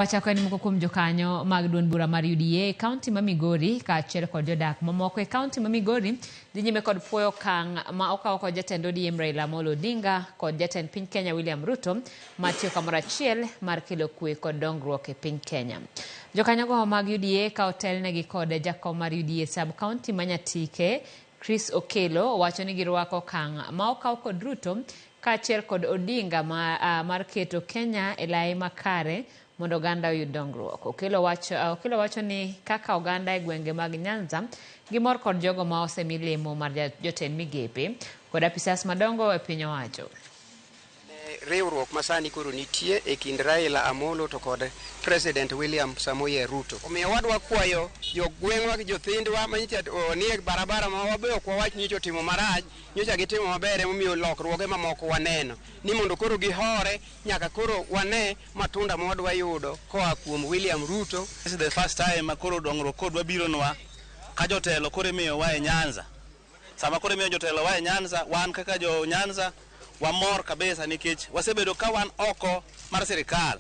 Wachako en moko kuom jokanyo mag duond bura mar UDA e kaunti ma Migori kaachiel kod jodak mamoko e kaunti ma Migori dhi nyime kod puoyo okang' ma okawo kod jatend ODM Raila Amolo Odinga kod jatend piny Kenya William Ruto ma tiyo kamoro achiel mar kelo kwe kod dongruok e piny Kenya. Jokanyogo mag UDA ka otelnegi kod jakom mar UDA sub kaunti ma Nyatike Chris Okello owacho ni girwako okang' ma okaw kod Ruto kaachiel kod Odinga ma, a, mar keto Kenya e lai makare mondo oganda oyud dongruok. Okello wacho, a, Okello wacho ni kaka oganda e gwenge mag Nyanza gimor kod jogo ma osemi lemo mar ja- jotend migepe kod apisas madongo e piny owacho. Ne riwruok masani koro nitie e kind Raila Amolo to kod President William Samoei Ruto. Omiyo wadwa kwayo jo gweng'wa gi jothindwa manyicha nie barabara ma wabe ok wawach nyicha otimo marach, nyocha gitimo maber emomiyo lokruoge mamoko waneno. Ni mondo koro gihore nyaka koro wane matunda ma wadwa yudo koa kuom William Ruto. This is the first time ma koro dongruok koro dwa bironwa ka jotelo koro imiyowa e Nyanza. Sama koro imiyo jotelo wae Nyanza, wan kaka jo Nyanza wamor kabisa nikech wasebedo ka wan oko mar sirikal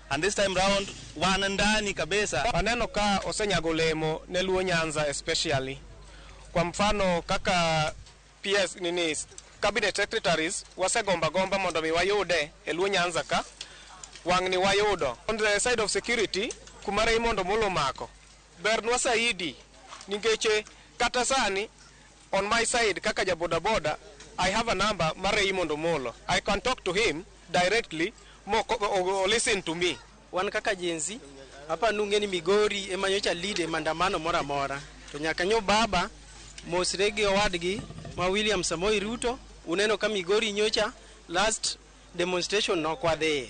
and this time round wan ndani kabisa. Waneno ka osenyago olemo ne Luo Nyanza especially. Kwa mfano kaka PS nini cabinet secretaries wasegomba gomba mondo mi wayude e Luo Nyanza ka wang'ni wayudo. On the side of security kumare imondo molo mako Bernwa saidi ningeche kata sani on my side kaka ja boda boda I have a number mar Raymond Omolo. I can talk to him directly mo listen to me. Wan kaka jenzi hapa nunge ni Migori ema nyocha lead e maandamano mora mora. To nyaka nyo baba mosre gi owadgi ma William Samoei Ruto uneno ka Migori nyocha last demonstration nokwadheye.